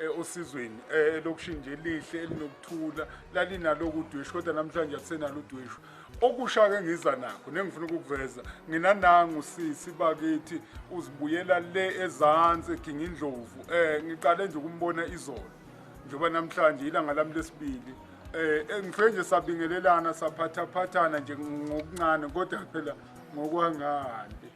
eh, osizweni eh, elokishini nje elihle elinokuthula lalinaloku udweshu kodwa namhlanje akusenalo udweshu okusha-ke ngiza nakho nengifuna ukukuveza ngina nangu sisi bakithi uzibuyela le ezansi eginga indlovu um ngiqale nje ukumbona izolo njengoba namhlanje ilanga lami lesibili um ngifike nje sabingelelana saphathaphathana nje ngokuncane kodwa phela ngokuhangahande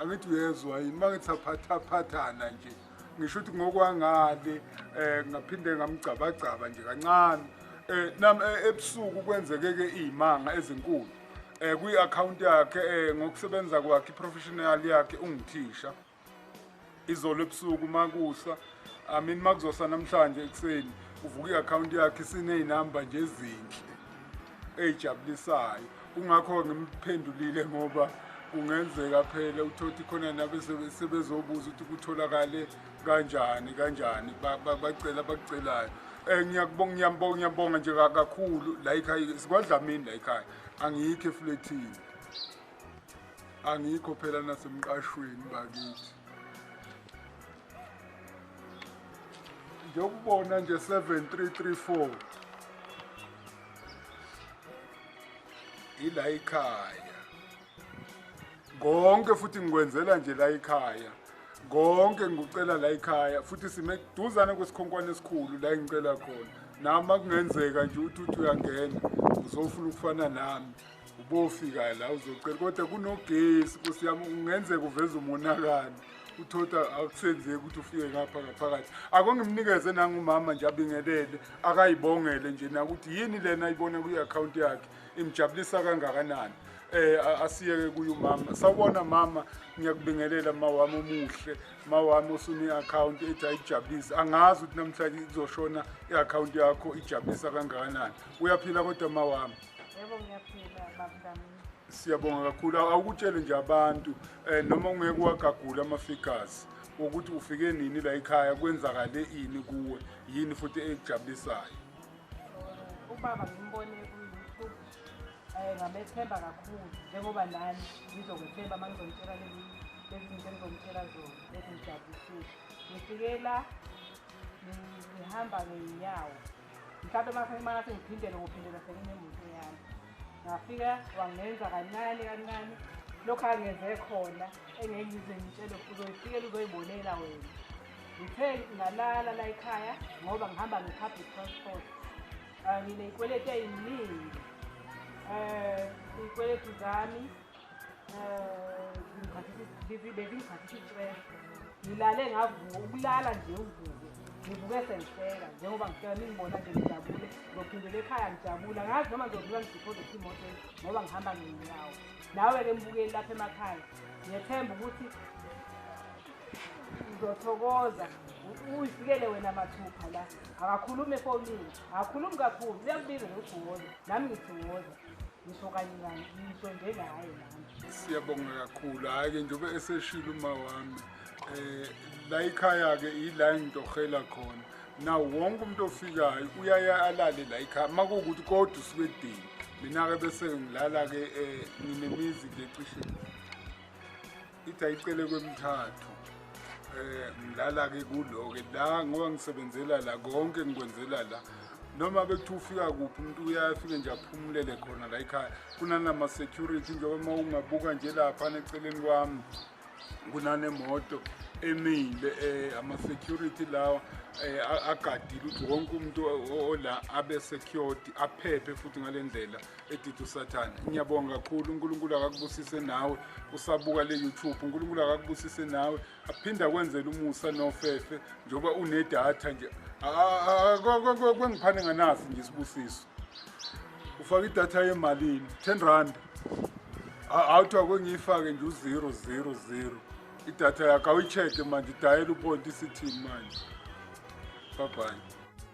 angithi uyezwa yini uma ngithi saphathaphathana nje ngisho ukuthi ngokwangale um ngaphinde ngamgcabagcaba nje kancane um nam eh, ebusuku kwenzeke-ke iy'manga ezinkulu um kwi-akhawunti yakhe um ngokusebenza kwakhe iprofessional yakhe ungithisha izolo ebusuku uma kusa I mean uma kuzosa namhlanje ekuseni uvuka i-akhawunti yakhe isineynamba nje ezinhle eyijabulisayo kungakho ngimphendulile ngoba kungenzeka phela uthothi khona nabe sebezobuza ukuthi kutholakale kanjani kanjani bacela bakucelayo um eh, ngiyakubonga ngiyambonga ngiyambonga nje kakhulu la yikhaya sikwadlamini la yikhaya angiyikho efulethini angikho phela nasemqashweni bakithi ngiyokubona nje 7334 ila ikhaya konke futhi ngikwenzela nje la ikhaya konke ngikucela la ikhaya futhi sime kuduzane kwesikhonkwane esikhulu la engicela khona nami akungenzeka nje ukuthi uthi uyangena uzofuna ukufana nami ubofika la uzocela kodwa kunogesi nkosi yami kungenzeka uveza umonakalo uthotha akusenzeki ukuthi ufike ngapha ngaphakathi akongimnikeze nangumama nje abingelele akayibongele nje nakuthi yini lena ayibona kwi-akhawunti yakhe imjabulisa kangakanani eh asiyeke kuyo mama sawubona mama ngiyakubingelela mama wami omuhle mama wami osune account ethi ayijabulise angazi ukuthi namhlanje izoshona iaccount yakho ijabulisa kangakanani uyaphila kodwa mama wami yebo ngiyaphila babudamini siyabonga kakhulu awukutshele nje abantu um noma ungeke wagagula ama-figures ukuthi ufike nini la ekhaya kwenzakale ini kuwe yini futhi ekujabulisayo ubaba ngimbone kuyiyoutube um ngabethemba kakhulu njengoba nani ngizokwethemba uma ngizomtshela lezi zinto engizomtshela zona ezingijabulisiwe ngifike la ngihamba ngeyinyawo mhlawumbe masemana sengiphindele ukuphindela senginemoto yami ngafika wangenza kancane kancane lokhu angenze khona engeke ngize ngitshele uzoyifikela uzoyibonela wena ngithe ngalala la ekhaya ngoba ngihamba nge-public transport um ngineyikweleti eyiningi um iyikweleti zami ngilale ngavuka ukulala nje uvuke ngivuke sengihleka njengoba ngifika ningibona nje ngijabule ngizophindela ekhaya ngijabula ngazi noma ngizodlula ngidiphoze ukuthi imoto ngoba ngihamba ngenyawo nawe-ke mbukeli lapha emakhaya ngiyethemba ukuthi uzothokoza uyifikele wena mathupha la akakhulumi efonini akakhulumi kakhulu uyakubiza nokugwoza nami ngithokoza ngisho kanye kanye ngiqonde ngaye nami siyabonga kakhulu hhayi-ke njengoba eseshile uma wami um la ikhaya-ke yila engitohela khona na wonke umuntu ofikayo uyaye alale la ikhaya uma kuwukuthi kodwa usuke edini mina-ke bese ngilala-ke um nginemizi ngecishe ithi ayicele kwemthathu eh ngilala-ke kulo-ke la ngoba ngisebenzela la konke ngikwenzela la noma bethi ufika kuphi umuntu uyafike nje aphumulele khona la ekhaya kunanama-security njengoba uma ungabuka nje laphana eceleni kwami kunanemoto emile eh ama-security lawa eh agadile ukuthi wonke umuntu ola abe security aphephe futhi ngalendlela edidi usathane ngiyabonga kakhulu unkulunkulu akakubusise nawe usabuka le youtube unkulunkulu akakubusise nawe aphinde akwenzele umusa nofefe njengoba unedatha nje kwengiphane nganazi nje isibusiso ufaka idatha yemalini ten rand awuthiwa kwengiyifake nje uzero zero zero idatha yakho awuyi-check-e manje idayela uponti isithini manje babhayi